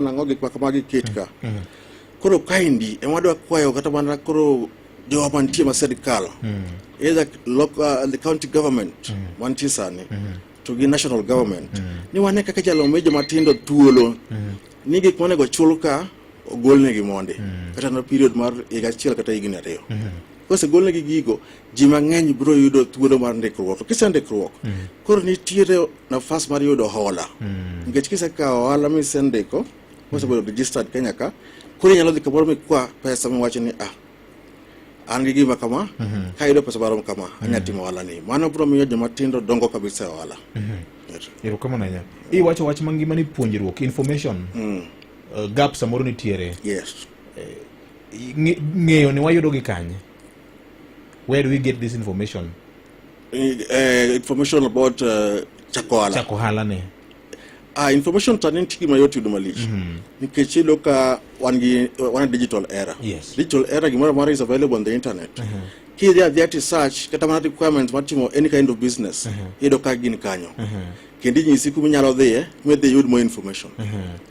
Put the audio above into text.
Nang'o gik ma kamagi ket ka. Mm. Koro kaendi ema wadwa kwayo kata mana koro jowa mantie ma sirkal mm. either local, uh, the county government mm. mantie sani mm. to gi national government mm. ni wane kaka jalo mi joma tindo thuolo mm. ni gik monego chul ka ogolnegi mondi mm. kata na period mar higa achiel kata higni ariyo mm. Kosegolnegi gigo, ji mang'eny biro yudo thuolo mar ndikruok. To kisendikruok, mm. koro nitiere nafas mar yudo hola. Mm. Nikech kisekawo hola misendiko, mosebedo registered Kenya ka, koro inyalo dhi kamoro mikwa pesa miwacho ni ah, an gi gima kama mm -hmm. ka yudo pesa marom kama mm -hmm. anya timo ohala ni mano biro miyo joma tindo dongo kabisa e ohala mm -hmm. erokamano ahinya iwacho wach mangima ni puonjruok information mm. uh, gap samoro nitiere yes. eh, ng'eyo ni wayudo gi kanye where do we get this information uh, information about uh, eh, chakohala chakohala ne uh, information tani nitie gima yot yudo malich mm -hmm. nikech iyudo ka wan gi wan digital era yes. digital era gimoro amora is available on the internet uh -huh. kidhi adhia ti search kata mana requirements mar timo any kind of business uh -huh. iyudo ka gin kanyo uh -huh. kendo inyisi kuma inyalo dhiye midhi yud more information uh -huh.